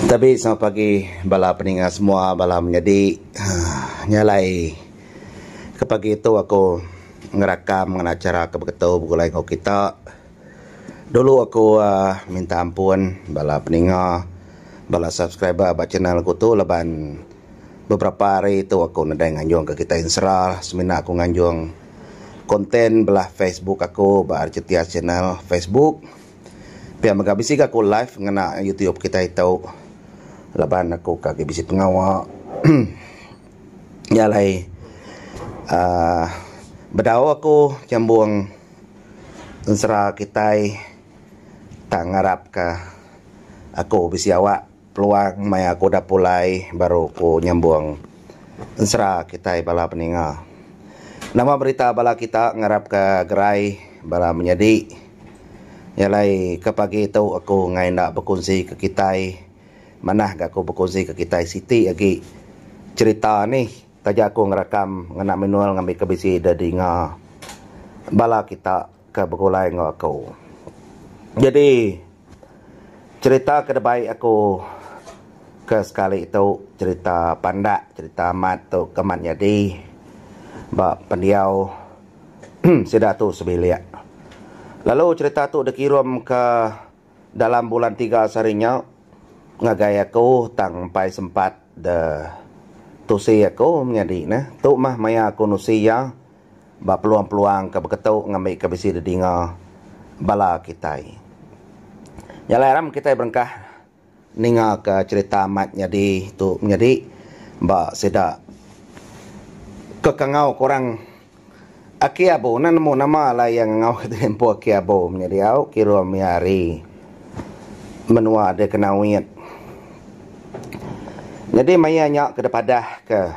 Tabi selamat pagi bala peninga semua bala menyadi aaa nya alai ke pagi tu aku ngerakam ngena chara ke beketu begulai enggau kita dulu aku aaa minta ampun bala peninga bala subscriber ba channel aku tu laban beberapa hari tu aku nadai nganjung ke kitai ensera semina aku nganjung content bala facebook aku ba rcts channel facebook. Pia mega bisi ga aku live ngena YouTube kitai tu laban aku ka agi bisi pengawa nya alai uhh bedau aku nyambung ensera kitai tang ngarap ka aku bisi awak. Peluang maya aku udah pulai baru aku nyambung ensera kitai bala peninga. Nama berita bala kita ngarapka gerai bala menyadi? Nya alai ke pagi tu aku enggai enda bekunsika kitai manah ga aku bekunsika kitai siti agi cherita nih taja aku ngerakam ngena manual ngambika bisi didinga bala kita. ke begulai enggau aku. Nyadi cherita ke dibai aku ke sekali tu cherita pandak cherita amat tu ke amat nyadi ba pendiau sida tu sebilik. Lalu cherita tu dikirum ke. Dalam bulan tiga sehari nya ngagai aku tang empai sempat de tusi aku menyadi neh. Tu mah maya aku nusi iya ba peluang-peluang ke beketu ngambika bisi didinga bala kitai. Nya alai aram kitai berengkah. Ninga ka cerita amat nyadi tu menyadi ba sida ke kangau ke orang Aki Abu enda nemu nama alai iya ngangau ke di empu Aki Abu menyadi au kira mih ari menua de kena uit. Nyadi maya nya ke dipadah ke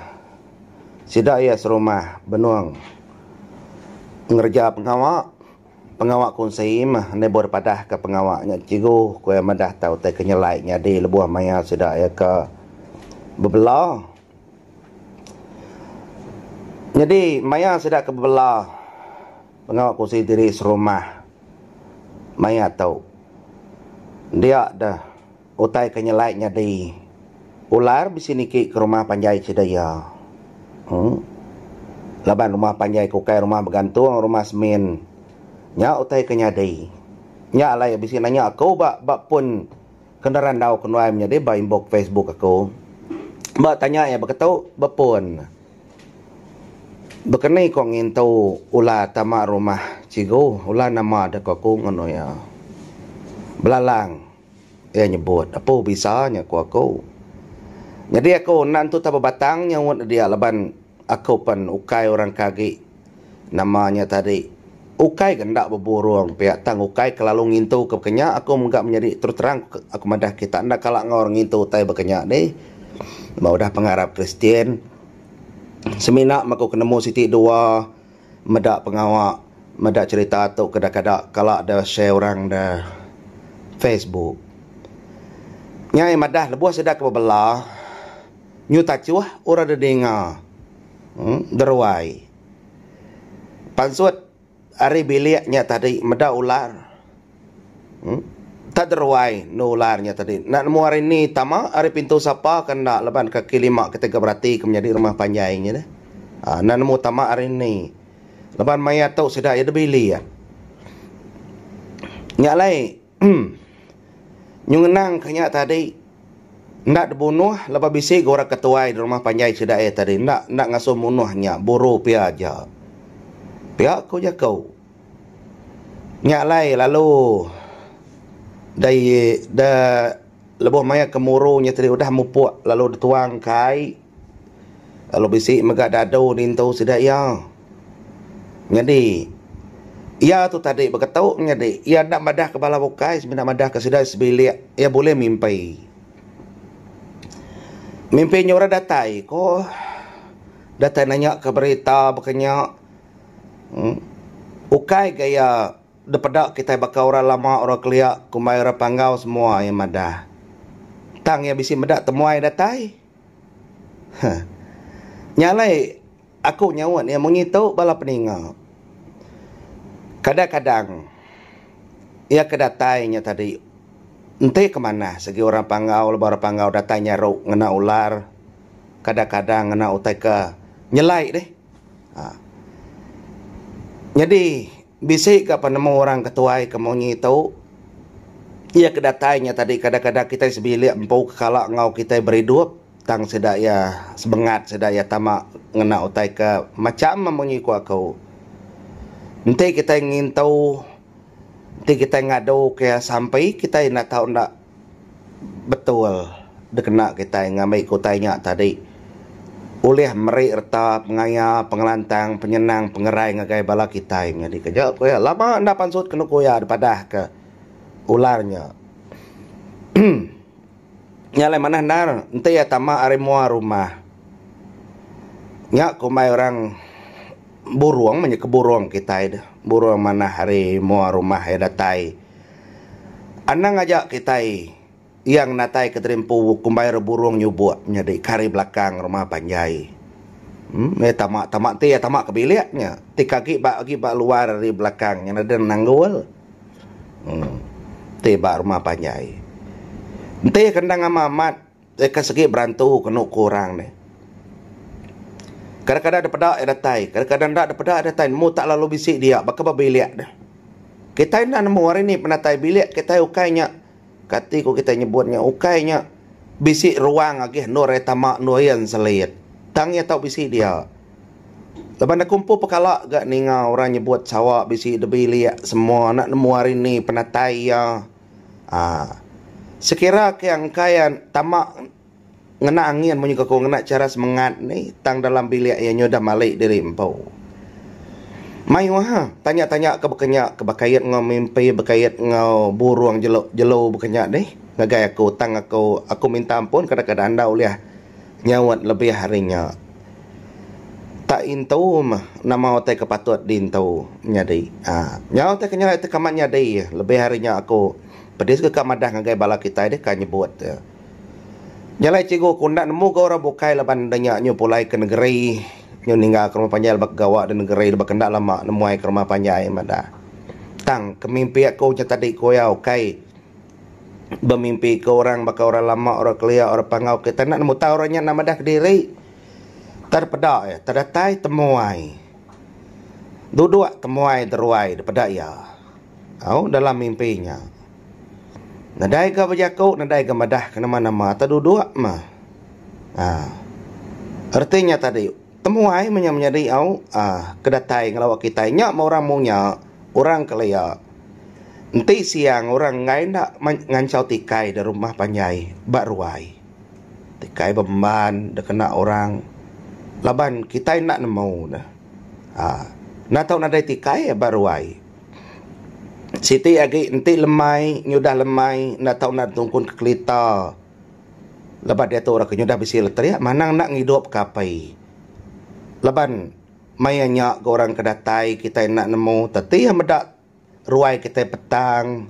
sida iya serumah benung ngereja pengawa. Pengawa ku Nssim endai buah dipadah ka pengawa nya cikgu ku iya madah tau utai ke nyelai nyadi lebuh maya sida iya ka bebela. Nyadi maya sida ka bebela pengawa ku Nssim diri serumah maya tu dia deh. Utai ke nyelai nyadi ular bisi niki ke rumah panjai sida iya. Hoo. Laban rumah panjai ke ukai rumah begantung rumah semin. Nya utai ke nyadi. Nya alai bisi nanya aku ba ba pun ke nerandau ke nuai menyadi ba inbox facebook aku. Ba tanya iya beketu ba pun. Bekeni ko ngintu ular tama rumah cigu. Ular nama deh ko aku ngono iya. Belalang. Iya nyebut, Apu bisa nya ku aku. Nyadi aku enda entu tau bebatang nyaut nedia laban aku pen ukai orang ke agi nama nya tadi. Ukai ke enda beburung pia tang ukai ke lalu ngintu ke bekenya aku mega menyadi terus terang aku madah kita enda kala enggau orang ngintu utai bekenya dih. Ba udah pengarap Kristian semina meh aku ke nemu siti dua. Meda pengawa meda cerita tu ke dah kada kala da share orang da Facebook. Nyai madah lebuh sida ke bebela nyu tachuh orang da ninga uhh da ruai. Pansut ari bilik nya tadi meda ular. Enta deruai endu ular nya tadi. Enda nemu ari ni tama, ari pintu sapa ke enda laban kaki lima kitai ke berati ke menyadi rumah panjai nya deh. Aa enda nemu tama ari ni. Laban maya tu sida iya deh bili iya. Nya alai nyuh ngenang ka nya tadi enda dibunuh laban bisi ga orang ke tuai di rumah panjai sida iya tadi enda enda ngasuh munuh nya buru pia aja. Pia ku jaku. Nya alai lalu da ye da lebuh maya kemuru nya tadi udah mupuk lalu dituang kai lalu bisi mega dadu nintu sida iya. Nyadi iya tu tadi beketu nyadi iya enda madahka bala bukai semina madahka sida sebilik iya bulih mimpi. Mimpi nyuruh datai ko datai nanya ka berita baka nya. Ukai ga iya dipeda kitai baka orang lama orang kelia kumbai orang panggau semua iya madah. Tang iya bisi meda temuai datai. Huh. Nya alai aku nyaut iya munyi tu bala peninga. Kadang-kadang iya ke datai nya tadi enti ke manah segi orang panggau laban orang panggau datai nyaru ngena ular kadang-kadang ngena utai ke nyelai dih. Nyadi bisi ga penemu orang ke tuai ke munyi tu iya ke datai nya tadi kadang-kadang kitai sebilik empu ke kala enggau kitai beridup tang sida iya sebengat sida iya tama ngena utai ke macham munyi ku aku enti kitai ngintu enti kitai ngadu ke iya sampi kitai enda tau enda betul dikena kitai ngambi ke utai nya tadi ulih meri reta pengaya pengelantang penyenang pengerai ngagai bala kitai nyadi keja ku iya lama enda pansut ke nuku iya dipadah ke ular nya emm nya alai manah endar enti iya tama ari mua rumah nya kumbai orang burung menyeke burung kitai deh burung manah ari mua rumah iya datai Anang aja kitai iya ngenatai ke diri empu kumbai ra burung nyubok nyadi ke ari belakang rumah panjai. Em meh tama tama enti iya tama ke bilik nya ti ke agi ba agi ba luar ari belakang nya ngadan ne nanggul. Em ti ba rumah panjai. Enti kandang ama amat. Deka segi berantu kenu ku orang nih. Kadang-kadang da peda iya datai, kadang-kadang enda da peda iya datai nemu tak lalu bisi dia baka ba bilik deh. Kitai enda nemu hari nih penatai bilik kitai ukai nya kati ku kitai nyebut nya ukai nya bisi ruang agih endur iya tama endur iya enselit. Tang iya tau bisi dia. Laban aku empu pekala ga ninga orang nyebut sawa bisi da bilik semua enda nemu hari nih penatai iya. Aa. Sekira ke engkai iya tama ngena angin munyi ke ku ngena chara semengat ni tang dalam bilik iya nyudah mali diri empu. Mayuh ha tanya-tanya ke baka nya ke bekait enggau mimpi bekait enggau burung jelu-jelu baka nya dih ngagai aku tang aku aku minta ampun kadang-kadang enda ulih Nyaut lebih ari nya. Tak intu mah nama utai ke patut diintu nyadi. Aaa nyau utai ke nyau tekamat nyadi lebih ari nya aku pedis ke ka madah ngagai bala kitai deh ka nyebut e. Nya alai cikgu aku enda nemu ga orang bukai laban deh nya nyu pulai ke negeri nyu ninggal ke rumah panjai laban ke gawa di negeri laban ke enda lama nemuai ke rumah panjai madah. Tang kemimpi aku nya tadi ku iya ukai bemimpika orang baka orang lama, orang kelia, orang pangau kitai enda nemu tau orang nya enda madah kediri. Tang peda iya, tang datai temuai. Duduk temuai deruai da peda iya. Au dalam mimpi nya. Nadai ga bejaku, nadai ga madah ke nama-nama tang duduk mah. Haa. Reti nya tadi, temuai mah nya menyadi au, aa ke datai ngelawa kitai nya meh orang mung nya. orang kelia. Enti siang orang enggai enda ngansau tikai da rumah panjai ba ruai. Tikai bemban da kena orang laban kitai enda nemu ne uhh enda tau nadai tikai ba ruai. Siti agi enti lemai nyudah lemai enda tau nadai tungkun ke kelita laban diatu orang ke nyudah bisi lateria manang enda ngidup ke apai laban. Maya nya ga orang ke datai kitai enda nemu teti iya meda ruai kitai petang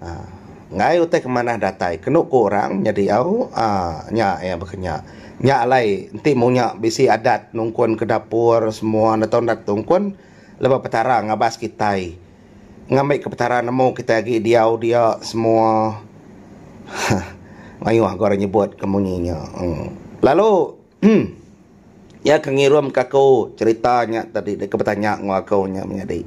uhh enggai utai ke manah datai kenu ku orang nyadi au uhh nya iya baka nya. Nya alai enti munya bisi adat nungkun ke dapur semua enda tau nda tungkun laban petara ngabas kitai ngambi ke petara nemu kitai agi diau dia semua uhh mayuh ga orang nyebut ke munyi nya uhh lalu. Em. Iya ke ngirum ka aku cerita nya tadi deka betanya enggau aku nya menyadi.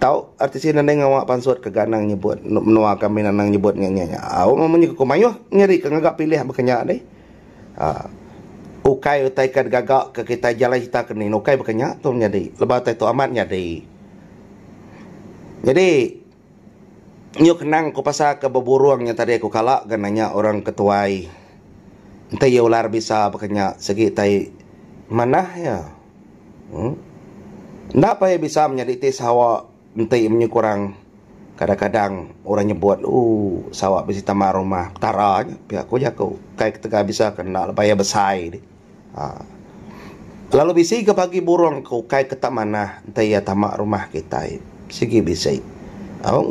Tau arti sien nadai ngawa pansut ke ga anang nyebut enda menua ke min anang nyebut nya nya nya. Au meh munyi ke ku mayuh nyadi ke ngaga pilih baka nya deh. Aa. Ukai utai ke digaga ke kitai jalai serita ke nin ukai baka nya tu menyadi lebuh utai tu amat nyadi. Nyadi. Yu kenang ku pasal ke beburung nya tadi ku kala ga nanya orang ke tuai enti iya ular bisa baka nya sigi tai manah iya uhh enda pun iya bisa menyadi ti sawa enti menyuku orang kadang-kadang orang nyebut ooh sawa bisi taman rumah petara nya pia ku jaku kai ketegal bisa ka enda lebai iya besai. Lalu bisi ga bagi burong ke ukai ke tak manah enti iya tama rumah kitai. Sigi bisi.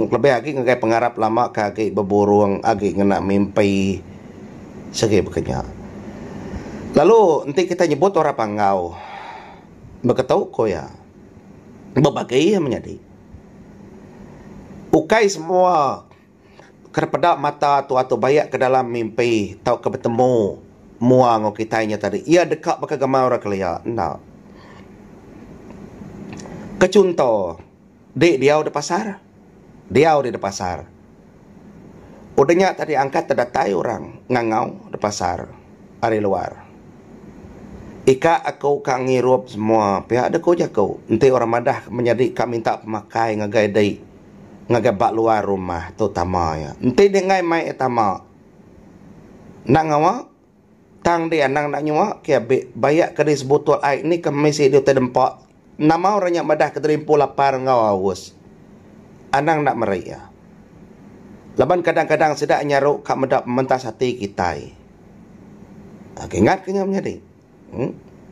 Lebih agi ngagai pengarap lama ke agi beburong agi ngena mimpi sigi baka nya. Lalu enti kitai nyebut orang panggau baka tu ku iya. Bebagi iya menyadi. Ukai semua. Kena peda mata atu-atu bayak ke dalam mimpi tauka betemu mua enggau kitai nya tadi. Iya deka baka gamai orang kelia. Enda. Ke chunto, di diau di pasar, diau di pasar. Udah nya tadi angkat da datai orang ngangau da pasar ari luar. Ika aku ka ngirup semua pia da ku jaku. Enti orang madah menyadi ka minta pemakai ngagai dei. ngagai ba luar rumah tu tama iya. Enti dia enggai mai iya tama enda ngawa tang dia anang enda nyuwa ke abi baya ke di sebutul ai ni ke meh sidi utai dempa nama orang nya madah kederimpu lapar enggau aus. Anang enda meri iya. Laban kadang-kadang sida nyaru ka meda pementas ati kitai. Ingat ke nya menyadi.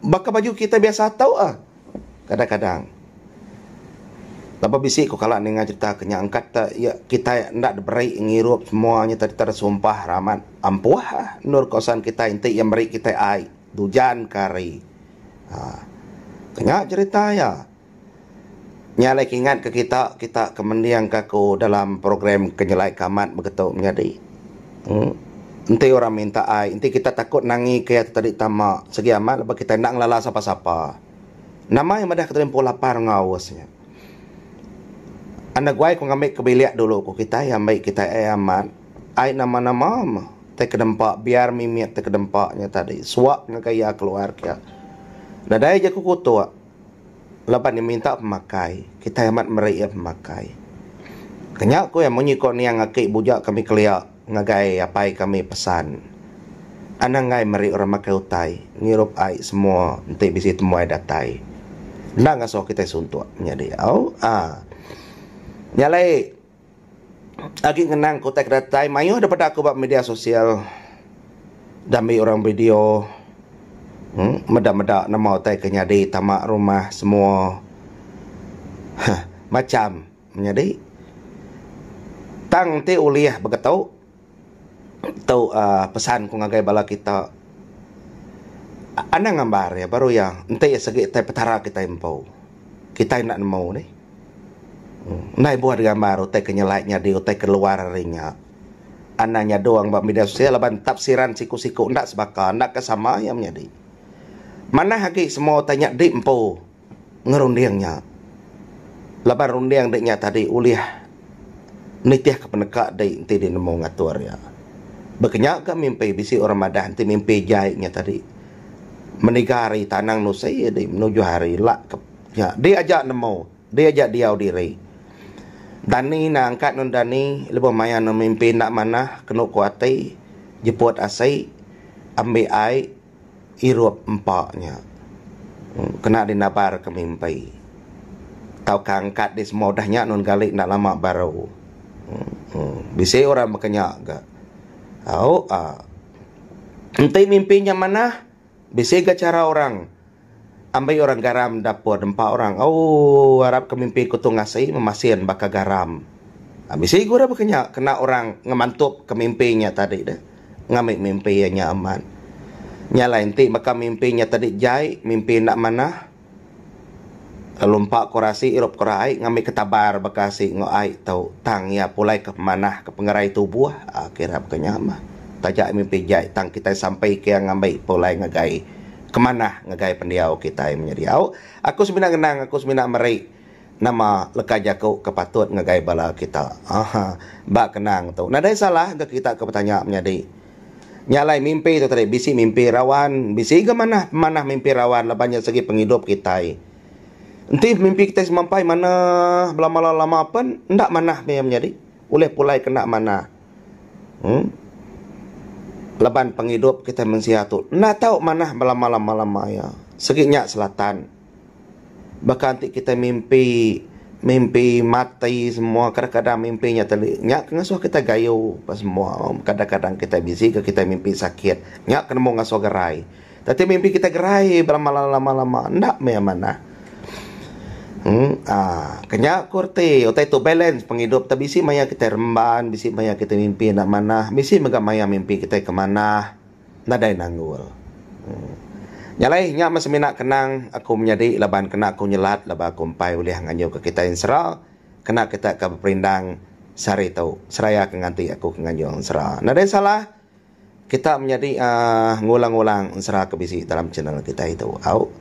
Baka baju kitai biasa tu ah kadang-kadang. Laban bisi ku kala ninga crita ke nya angkat te iya kitai enda diberi ngirup semua nyereta diter sumpah ramat ampuh ah endur kawasan kitai enti iya meri kitai ai di ujan ke hari. Nya crita iya. Nya alai ke ingat ke kita, kita ke mending ka aku dalam program ke nyelai ka amat begetu menyadi. Uhh enti orang minta ai, enti kita takut nangi ke iya tu tadi tama segi amat laban kita enda ngelala sapa-sapa. Nama iya madah keterimpu lapar enggau aus nya. Anda guai ku ngambi ke bilik dulu ku kitai iya ambi kitai ai amat, ai nama-nama meh tai ke nempa biar mimit tai ke nempa nya tadi suak ngagai iya keluar kiya. Nadai jaku kutuk. Laban iya minta pemakai, kitai amat meri iya pemakai. Kenya ku iya, Munyi ko niang aki buja kami kelia ngagai apai kami pesan, anang enggai meri orang makai utai ngirup ai semua enti bisi temuai datai. Enda ngasoh kitai suntok menyadi au. Aa. Nya alai. Agi ngenang ke utai ke datai mayuh daripada aku ba media sosial diambi orang video meda-meda nama utai ke nyadi tama rumah semua macham menyadi tang enti ulih begitu. Tu uhh pesan ku ngagai bala kita anang ngambar iya baru iya enti iya segi tai petara kitai empu kitai enda nemu nih. Ndai buah nya gambar utai ke nyelai nyadi utai ke luar ari nya. Anang nyadong ba media sosial laban tafsiran siku siku enda sebaka enda ke sama iya menyadi. Manah agi semua utai nya dih empu. ngerunding nya laban runding nya tadi ulih nitihka peneka dei enti dinemu ngatur iya. Baka nya ka mimpi bisi orang madah enti mimpi jai nya tadi meniga ari tanang nusi dei menuju ari lak ke nya dei aja nemu dei aja diau diri. Dani enda angkat anu dani lebuh maya anu mimpi enda manah kenu ku ati jeput asi ambi ai. irup empa nya kena dinabar ke mimpi tauka angkat dih semua udah nya nun gali enda lama baru uhh bisi orang baka nya ga au uhh enti mimpi nya manah bisi ga chara orang Ambi orang garam dapur dempa orang ooh arap ke mimpi ku tung asi memasin baka garam aa bisi gurah baka nya kena orang ngemantup ke mimpi nya tadi deh ngambi mimpi iya nya amat nya alai enti baka mimpi nya tadi jai mimpi enda manah lalu empa kura asi irup kura ai ngambi ke tabar baka asi enggau ai tu tang iya pulai ke pemanah ke pengerai tubuh aa kira baka nya mah taja mimpi jai tang kitai sampai ke iya ngambi pulai ngagai ke manah ngagai pendiau kitai menya diau. Aku semina ngenang, aku semina meri nama leka jaku ke patut ngagai bala kita. Aha, ba kenang tu, nadai salah ga kita ke betanya menyadi. Nya alai mimpi tu tadi, bisi mimpi rawan, bisi ga manah pemanah mimpi rawan laban nya segi pengidup kitai. Enti mimpi kitai semampai manah belama lama pen, enda manah meh iya menyadi. Ulih pulai kena manah. Uhh laban pengidup kitai mensia tu enda tau manah belama-lama-lama iya. Sigi nya selatan baka enti kitai mimpi, mimpi mati semua kadang-kadang mimpi nya teli. Nya ke ngasuh kitai gayu apai semua. Kadang-kadang kitai bisi ke kitai mimpi sakit. Nya ke nemu ngasuh gerai. Kati mimpi kitai gerai belama lama-lama enda meh amanah. Haa kenya ku reti utai tu balance pengidup tu bisi maya kitai remban bisi maya kitai mimpi enda manah bisi mega maya mimpi kitai ke manah nadai nanggul. Nya alai nya meh semina kenang aku menyadi laban kena ku nyelat laban aku empai ulih ngayuhka kitai ensera kena kita ke beperindang sehari tu seraya ke nganti aku ke ngayuh ensera. Nadai salah. Kita menyadi aaa ngulang-ulang ensera ke bisi dalam channel kitai tu au.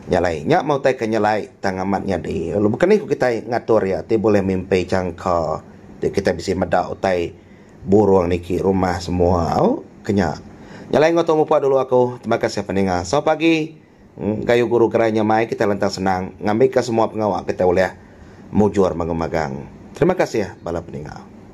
Nya alai, nya mautai ke nya like tang amat nyadi. Lalu baka ni ku kitai ngatur iya ti bulih mimpi jangka ti kitai bisi meda utai burung niki rumah semua au. Ke nya. Nya alai enggau tu mupa dulu aku. Terima kasih peninga. Sau pagi ga yu guru gerai nya mai kitai lantang senang ngambika semua pengawa kitai ulih mujur magau magang. Terima kasih bala peninga.